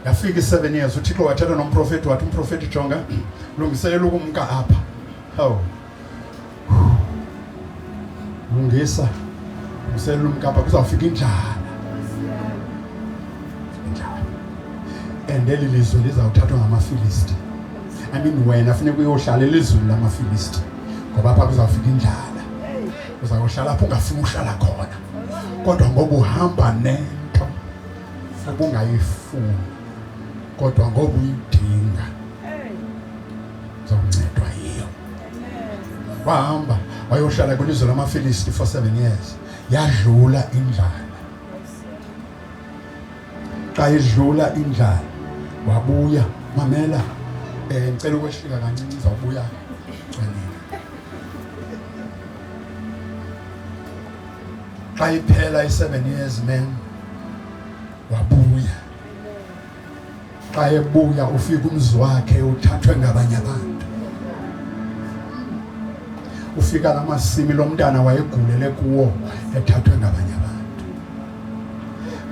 yafika i-seven years uthixo wathetha nomprofeti wathi umprofeti jonga lungiselela ukumka apha hawu lungisa lungiselela umka apha kuzawufika injala injala and eli lizwe lizawuthathwa ngamafilisti i mean wena funeka uyohlala elizweni lamafilisti ngoba apha kuzawufika injala uzawuhlala apho ungafuni uhlala khona kodwa ngoba uhamba nento ubungayifuni kodwa ngoba uyidinga zoncedwa yiyo wahamba wayohlala kwilizwe lamafilisti for seven years yadlula indlala xa idlula indlala wabuya mamela um ngicela ukwehlika kancinci zawubuya xa iphela i-seven years man wabuya xa ebuya ufika umzi wakhe uthathwe ngabanye abantu ufika la masimi lo mntana wayegulele kuwo ethathwe ngabanye abantu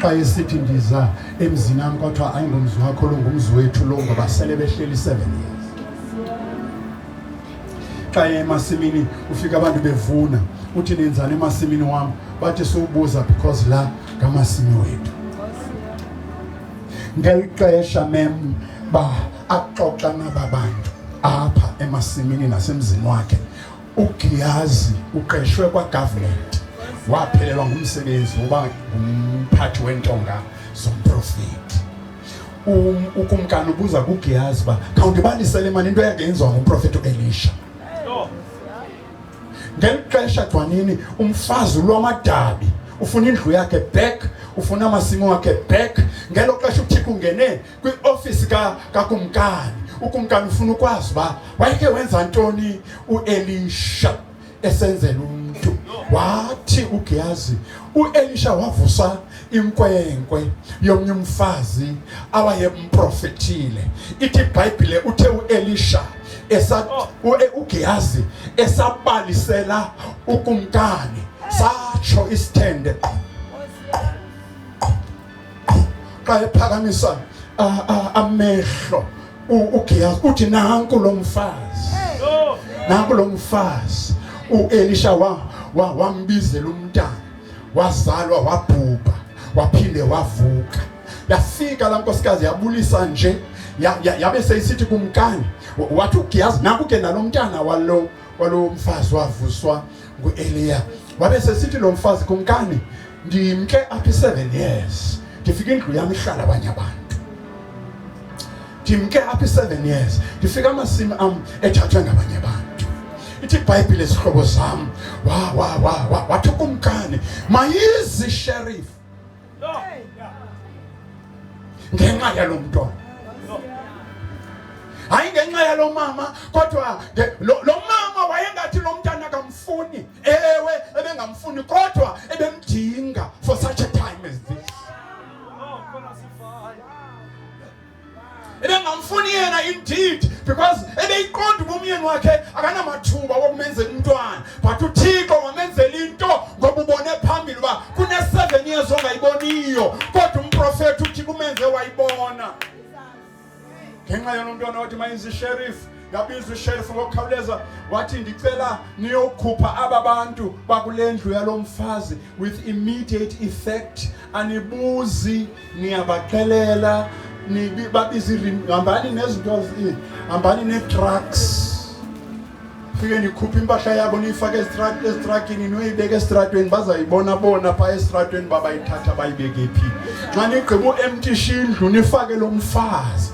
xa esithi ndiza emzini am kwathiwa ayingomzi wakho longumzi wethu lo ngoba sele behleli i-seven years xa emasimini ufika abantu bevuna uthi nenzani emasimini wam bathi siwubuza because la ngamasimi wethu ngeli xesha mem ba axoxa naba bantu apha emasimini nasemzini wakhe ugiyazi uqeshwe kwagovernment waphelelwa ngumsebenzi woba ngumphathi wentonga zomprofeti Um, ukumkani ubuza kuGehazi uba khawundibanisele mani into eyake yenziwa ngumprofeti uElisha. Ngeli xesha gcwanini umfazi ulwamadabi ufuna indlu yakhe back ufuna amasimo wakhe back ngelo xesha uthixo ungene kwiofisi kakumkani ukumkani ufuna ukwazi uba wayeke wenza ntoni uelisha esenzela umntu wathi uGehazi uElisha wavusa inkwenkwe yomnye umfazi awayemprofethile ithi ibhayibhile uthe uElisha esa uGehazi esabalisela ukumkani satsho isithende qho xa ephakamisa amehlo uGehazi uthi nanku lo mfazi nanku lo mfazi uElisha wa wambizela umntana wazalwa wabhubha waphinde wavuka yafika la nkosikazi yabulisa nje yabe seyisithi kumkani wathi uGehazi naku ke nalomntana walo walomfazi wavuswa ngueliya wabe sesithi lo mfazi kumkani ndimke apha i-seven years ndifika indlu yam ihlala abanye abantu ndimke apha i-seven years ndifika amasimi am ethathwe ngabanye abantu ithi ibhayibhile zihlobo zam wathukumkani mayizi sherifu ngenxa yalo mntwana hayi ngenxa yalo mama kodwa lo mama wayengathi lo mntana akamfuni ewe ebengamfuni kodwa ebemdinga for such a time as this ebengamfuni yena indeed because ebeyiqonda uba umyeni wakhe akanamathuba wokumenzela umntwana but uthixo wamenzela into ngoba ubone phambili uba kune-seven years ongayiboniyo kodwa umprofethi uthixo umenze wayibona ngenxa yona umntwana wathi mayenzisherifu Ngabiza usheriff ngokukhawuleza wathi ndicela niyokhupha aba bantu bakule ndlu yalo mfazi with immediate effect anibuzi niyabaxelela nibi- babize irim- hambani nezinto zi- hambani nee-trucks fike nikhuphe impahla yabo niyifake esitra- esitrakini niyoyibeka esitratweni bazayibona bona phaa esitratweni babayithatha bayibeke phi xa nigqiba u-emtisha indlu nifake lo mfazi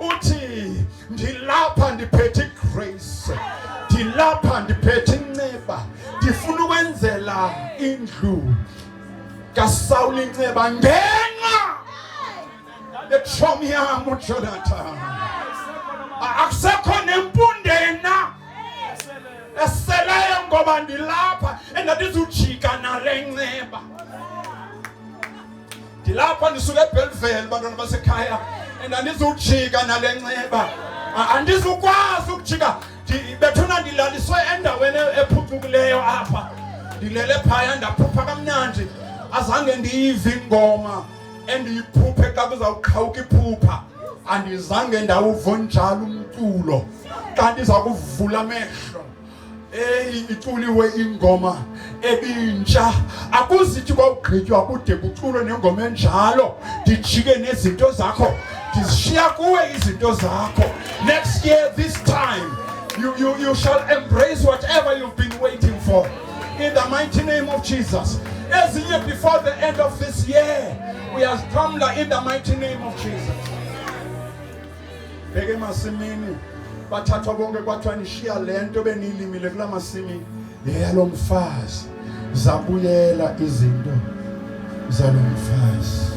uthi ndilapha ndiphethe igrace ndilapha ndiphethe inceba ndifuna ukwenzela indlu kasawula inceba ngenxa yetshomi yam ujonathan akusekho nempunde na eseleyo ngoba ndilapha endandizujika nale nceba ndilapha ndisuke ebheliveli bantwana basekhaya and andizujika nale nxeba andizukwazi ukujika bethuna ndilaliswe endaweni ephucukileyo apha ndilele phaya ndaphupha kamnandi azange ndiyive ingoma endiyiphuphe xa kuzawuqhawuka iphupha andizange ndawuvonjalo umculo xa ndiza kuvula amehlo Eyi iculiwe ingoma ebintsha akuzithi kwawugqitywa kude kuculwe nengoma enjalo ndijike nezinto zakho ndizishiya kuwe izinto zakho next year this time you, you, you shall embrace whatever you've been waiting for in the mighty name of jesus ezinye before the end of this year uyazixhamla in the mighty name of jesus bheke emasimini bathathwa bonke kwathiwa nishiya le nto beniyilimile kula masimi yeyalo mfazi zabuyela izinto zalo mfazi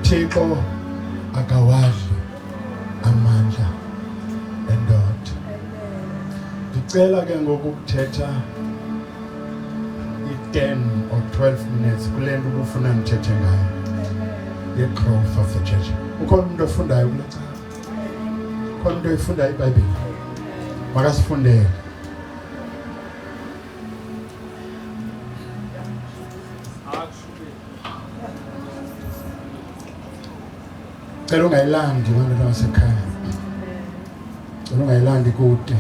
thixo akawadli amandla endoda ndicela ke ngoku kuthetha i-ten or twelve minutes kule nto ubufuna ndithethe ngayo ye-growth of the church ukhona umntu ofundayo kule cala ukhona umntu oyifundayo ibhayibhile makasifundele cela ungayilandi abantu basekhaya cela ungayilandi kude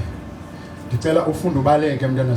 ndicela ufunde ubaleke mntana